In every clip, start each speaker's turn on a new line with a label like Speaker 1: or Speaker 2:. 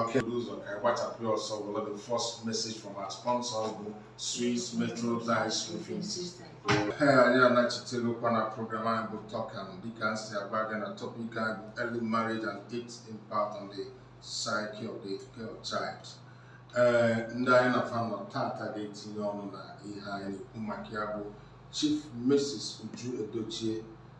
Speaker 1: Okay, ụzọ ka anyị gbachapụ ya ọsọ were the first message from our sponsor bụ Swiss Metro Tiles Roofing System. Ee, anyị anachitegokwa na program anyị bụ Tọkan dịka m si agwa gị na topic anyị bụ early marriage and its impact on the psyche of the girl child. Ee, ndị anyị na fa nọ tata ga-etinye ọnụ na ihe anyị na-ekwu maka ya bụ Chief Mrs. Uju Edochie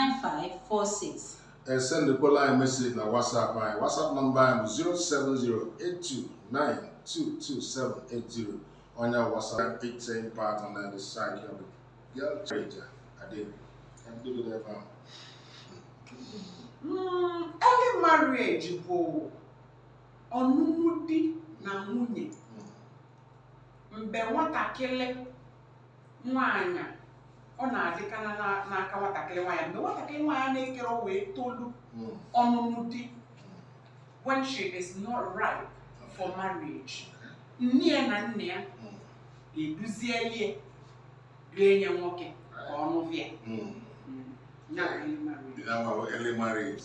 Speaker 1: 07018639546 esendekwala anyị message na WhatsApp anyị WhatsApp number anyị bụ 07082922780 onye WhatsApp itin patọ na the side ya bụ ya treja adị ka ndị bido ebe ahụ Mm, early marriage bụ ọnụnụ di na nwunye mgbe nwatakịrị nwaanyị ọ na-adịkana na- n'aka nwatakịrị nwaanyị mgbe nwatakịrị nwaanyị na-akarọ wee tolu Mm. ọnụnụ di when she is not ripe for marriage nne ya na nna ya Mm. eduzieli ya jee nye nwoke ka ọ nụva ya Mm. ya bụ early marriage. Ị na-agbawa early marriage.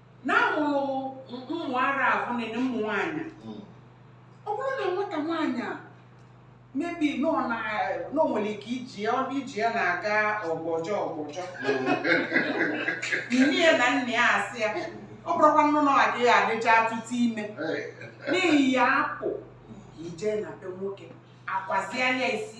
Speaker 1: na amụrụ ụmụ ara ahụ na ụmụ nwaanyị ọ bụrụ na nwata nwaanyị a mebi na ọ na na o nwere ike iji ya ọnụ iji ya na-aga ọgbọjọ ọgbọjọ nne ya na nna ya asị ya ọ bụrụkwa nnụ na ọ adịghị adịcha atụtụ ime n'ihi ya apụ ka ije na be nwoke akwaziela isi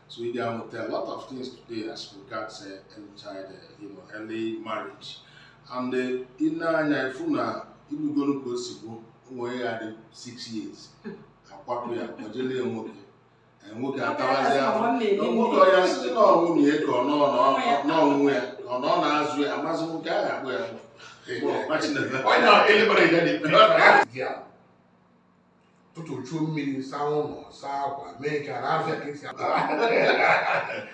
Speaker 1: So ị ga-amụta a lot of things today as regards uh, early child, uh, you know, early marriage. And uh, ị nee anya, ị fụ na, ị fụgo nụ ka o si bụ, o nwere ike ọ dị six years, akwapụ ya kpọjele ya nwoke Eh, nwoke atawazi ahụ nwoke ọya site na ọnwụ na ego n'ọnwụ ya ọ na ọ na-azụ ya amazi nwoke a ga-akpụ ya Ọ na-ele mara ya na-ekpe. ụtụtụ chuo mmiri zaa ụlọ saa akwa mee nke a na-azụ ya ka esi akpa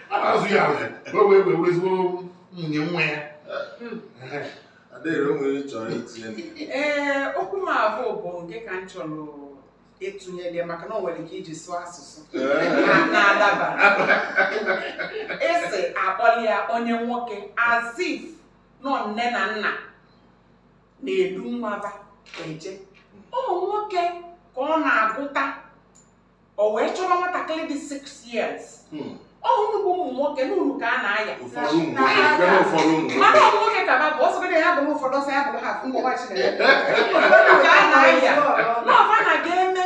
Speaker 1: a na-azụ ya azụ ka o wee wee were ezigbo nwunye nwa ya Ehe. Adaeze o nwere ihe ị chọrọ itinye na ya. ee okwu m afụ bụ nke ka m chọrọ ịtụnyere ya maka na o nwere ka e ji sụọ asụsụ na- na-adaba esi akpọli ya nye nwoke as if na ọ nne na nna na-edu nwa fa eje ụmụ nwoke ka ọ na-agụta o wee chọrọ nwatakịrị dị 6 years hmm. ọhụrụ bụ ụmụ nwoke n'uru ka a na-aya mana ụmụ nwoke ka babụ ọsọgide ya bụrụ ụfọdụ ọsọ ya bụrụ ha ụmụ nwaanyị na-aya n'ọfa na ga-eme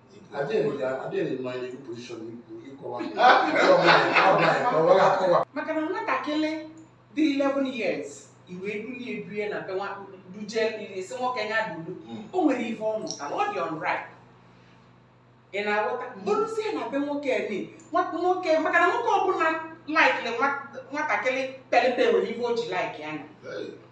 Speaker 1: maka na nwatakịrị dị 11 years i wee bulie ebie na be duje sị nwoke ya dulu hmm. o nwere ife ọ mụtara ọ dịrọ right ị na-aghọta bụrụzie na be nwoke ni nwoke maka na nwoke ọbụla laikiri nwatakịrị pere mpe nwere ife o ji like nya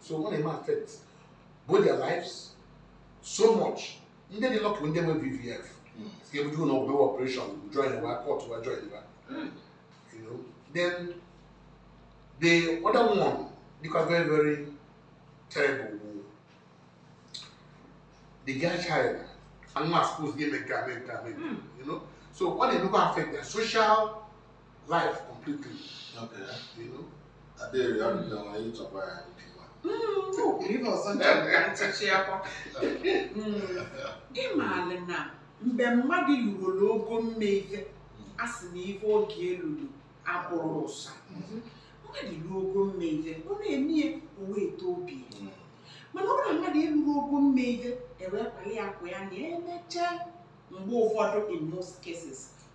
Speaker 1: so ọ na-eme affect both their lives so much ndị dị lucky ndị nwe vvf si ebuje ụlọ ọgwụ mewe operation join wa cut wa join wa you know then the other one dịkwa very very terrible bụ the girl child anụ asụpụs gị eme nke a mee nke a mee nke a, you know so ọ na-emekwa affect their social life completely. Okay. You know? I did it. I don't know. I need to buy it. Ife ọzọ nchịchị akwa. Ị maara na mgbe mmadụ lulu ogo mme ife, a sị na ife oge elulu abụrọ ụsa. Mmadụ lulu ogo mme ife, ọ na-eme ya o wee tọọ obi ya. Hmm. Mana ọ bụrụ na mmadụ elurọ ogo mme ife, ewepụla ya akwa ya na emechaa mgbe ụfọdụ in most cases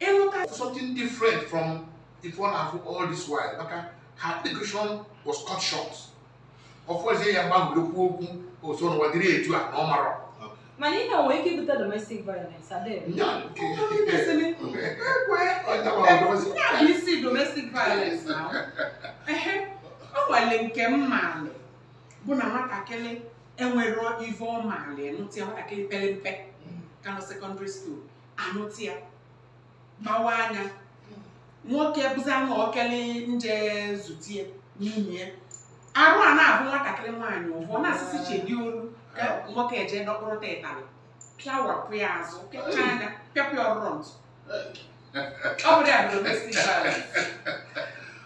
Speaker 1: ịlụta something different from ife ọ na-afụ all this while maka her education was cut short ọ fụzie ya gbagburu okwu okwu oso n'ụwa dịrị etu a na ọ marọ mana ihe nwere ike ibute domestic violence adịghị nya nke bụ isi domestic violence na ehe ọ nwale nke m maalị bụ na nwatakịrị enwero ive ọ maalị nụta nwatakịrị pere mpe ka nọ secondary school a nụta ya mawa anya nwoke bụzi anụ okele nje zutie n'ime ya arụ a na-abụ nwatakịrị nwaanyị ụfọ na-asịsị chedi olu ka nwoke eje dọkpụrụ ụtarị pịawapụ ya azụ pịacha nya pịapịa ọrụrụ ntụ ọ bụrụ ya bụ domestic violence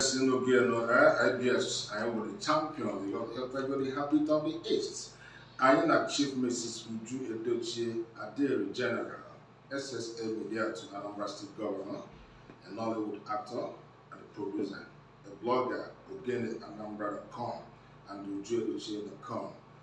Speaker 1: si n'obi elu ABS anyị nwere champion yọkọtagori the heartbeat of the east anyị na chief mrs uju edochie adịrị general ssa media to anambra state governor a nollywood actor and producer a blogger ogene anambra.com and uju edochie.com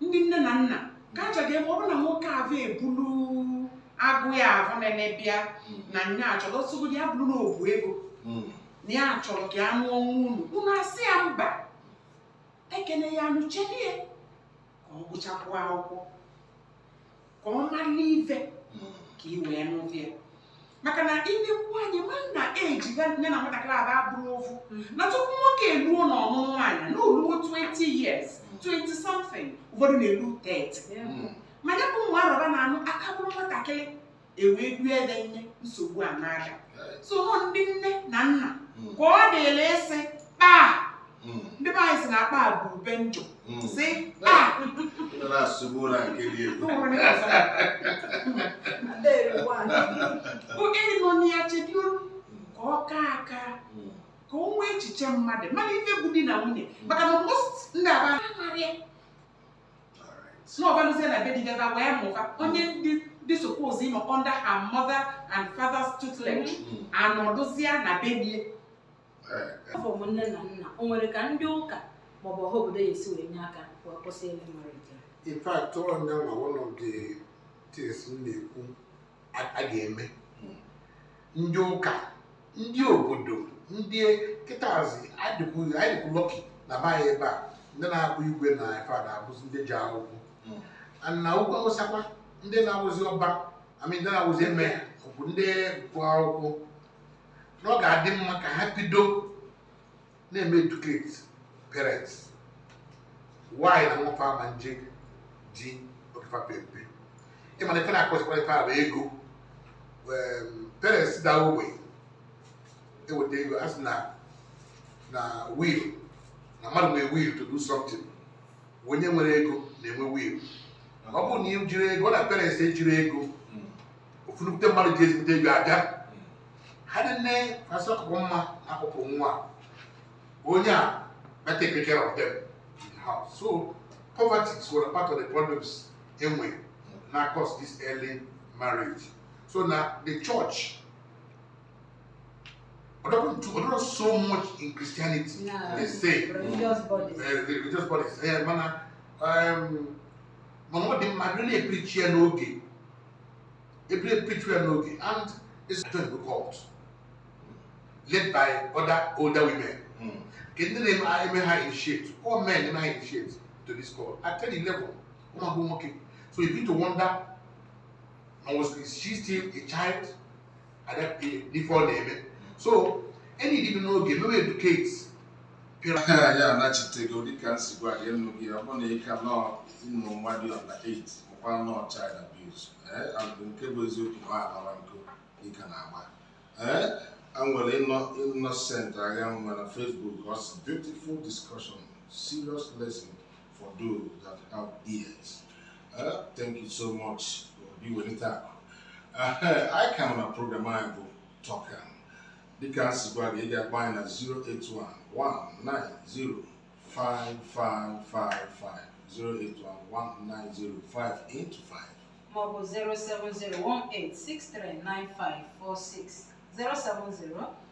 Speaker 1: ndị nne na nna kacha ga-eme ọ bụrụ na nwoke ahụ ebulu agụụ ya ahụ na-eme bịa na nya achọdọsogodi ya bụrụ na o bu ego Mm. na ya chọrọ ka ya nụọ nwa unu unu asị ya mba ekene ya anụ chelie ka ọ gụchakwuo akwụkwọ ka ọ mara n'ife ka i wee n'ụdị ya maka na ilekwu anyị ma na eji ya na nwatakịrị aba abụrụ ofu na tupu nwoke eluo na ọnụnụ nwaanyị na oluo 20 years 20 something ụfọdụ na-elu 30 mana bụ nwa arọba na-anụ aka bụrụ nwatakịrị ewee due ebe nne nsogbu a na-ada sọ ndị nne na nna hmm. ka ọ dịlị ịsị kpaa hmm. ndị be anyị si na akpa bụ ube njọ hmm. sị kpaa you know ya chebioro ka ọ kaa aka ka o nwee echiche mmadụ mana ife bụ di na nwunye maka na most ndị aba anaghị na ọ baluzie na be di gaba wee mụba onye ndị ndị suppose ịnọ under her mother and father's tutelage anọdụzie na be di ewepụ nne na nna o nwere ka ndị ụka maọbụ ọha obodo ya esi wee nye aka wee kwụsị early marriage a? in fact ọ nya nwa one of the things m na-ekwu a a ga-eme ndị ụka ndị obodo ndị kịtaazi anyị dịkwu lucky na be anyị ebe a ndị na-abụ igwe na ife a na-abụzi ndị je akwụkwọ Mm. And na Ugwu Awụsa kwa ndị na-awụzi Ọba I mean ndị na-awụzi Emir bụ ndị gụọ akwụkwọ na ọ ga-adị mma ka ha bido na-eme educate parents why na nwa fa ama nje di oge fa pe mpe ị ma na ife na-akọzikwara ife a bụ ego Em, parents da ogbe eweta ego a sị na na will na mmadụ nwee will to do something onye nwere ego na-enwe will ọ bụrụ na ị jirọ ego ọ na parents ejirọ ego ofu nnukwute mmadụ ji ezigbote ego abịa ha nne asị ọkụkụ mma akụkụ nwa onye a better take care of them in the house so poverty is one part of the problems enwe na cause this early marriage so na the church Although not so much in Christianity, no. they say religious bodies. Uh, the religious bodies. Yeah, man, um, man, what they really preach here no okay. ebile pichu ya n'oge and into the cult led by other older women hmm. ka ndị na-eme ha initiate all men na-eme ha initiate to this cult at ten eleven ụmụ agbụrụ nwoke so you begin to wonder was she still a child ife ọ na-eme so enyi dị n'oge mewe educate pịraka anyị anachitego dịka m si gwa gị enu gị ọ bụ na ịka nọọ ụmụ nwa dị ọla 8 ọkwa nọọ child abuse ee abụ nke bụ eziokwu ma alara nkụ dịka na agba ee anyị nwere Innocent Aghanwa na Facebook ọ sị beautiful discussion serious lesson for those that have ears Eh, thank you so much obi welite akụ anyị ka nọ na program anyị bụ Talk Am dịka anyị si gwa gị ị ga-akpọ anyị na 08119055550 maọbụ 07018639546 070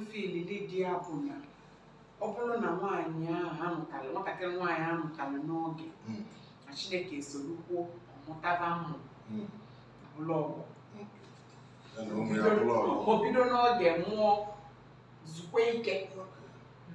Speaker 1: mfilili di ya bụ na ọ bụrụ na nwaanyị ahụ amụtara nwatakịrị nwaanyị amụtara n'oge Mm. na chineke esorukwuo ọ mụtaba ụmụ Mm. bụrụ ọgbọ Ya na ụmụ ya bụrụ ọgbọ. o bido n'oge mụọ zukwa ike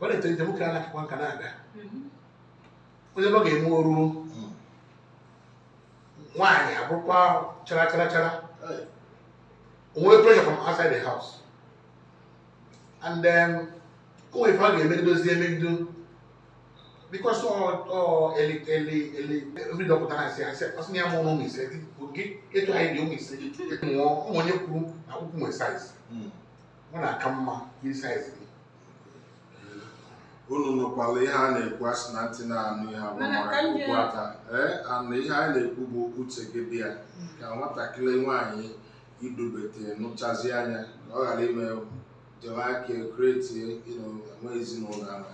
Speaker 1: ọ na-eche nche nwoke a na-akakwa nka na-aga onye ọ ga-eme oru nwaanyị abụrụkwa chara chara chara o nwere pressure from outside the house and then o nwere ife a ga-eme dozie emegido because ọ ọ eli eli eli every dọkịta na-asị asị ọ sị na ya mụrụ ụmụ ise gị oge ịtụ anyị dị ụmụ ise gị mụọ ụmụ onye kwuru na akpụkwụ nwere size ọ na-aka mma iyi size gị unu nụkwala ihe a na-ekwu a sị na ntị na-anụ ihe ama aha ka okpu ata ee ana ihe anyị na-ekwu bụ uche gị dị ya ka nwatakịrị nwaanyị idubete nụchazi anya ka ọ ghara ime jewe aka kretie enwe ezinụlọ ahụ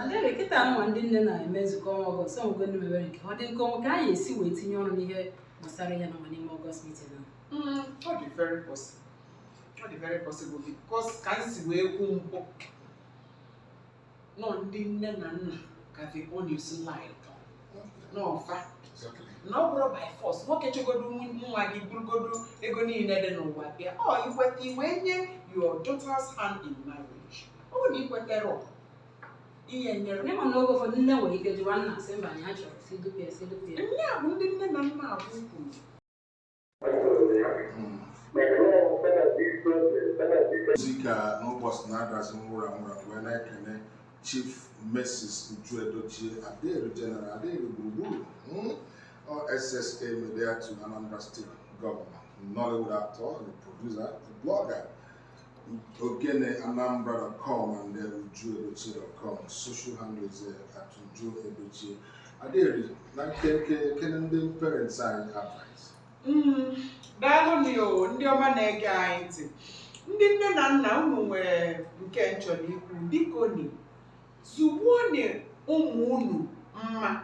Speaker 1: adịghị kịta nwa ndị nne na-eme nzukọ ọnwa August ọ nwego ndị mebere nke ọ dị nke ọnwa ka anyị esi wee tinye ọrụ n'ihe gbasara ya n'ọnwa n'ime August meeting ahụ ọ dị very possible ọ dị very possible because ka m si wee kwu mbụ na ndị nne na nna ka the onus lie n'ọfa na ọ bụrọ by force nwoke chọgodo nwa gị burugodo ego niile dị n'ụwa bịa ọ i kweta i wee nye your daughter's hand in marriage ọ bụrụ na i kwetarọ, ihe nyere N'ịma na oge ụfọdụ nne nwere ike jụwa nna sị mba anyị achọrọ si dupịa si dupịa. ndị a bụ ndị nne na nna abụ kwuru ozi ka n'ụbọchị na-adazi nwụrụ anwụrụ wee na-ekene chief mrs uju edochie adịru general adịru gburugburu mm, ọ SSA media to anambra state governor nollywood actor the producer the blogger Ogene Anambra.com and then ujuedochie.com. Social handle is uh, at ujuedochie. Adịru na nkenke kene ndị parents anyị advice. Mm, daalụ nụ ya o, ndị ọma na-ege anyị ntị ndị nne na nna unu nwere nke m chọrọ ikwu bikoni zụgbuoni ụmụ unu mma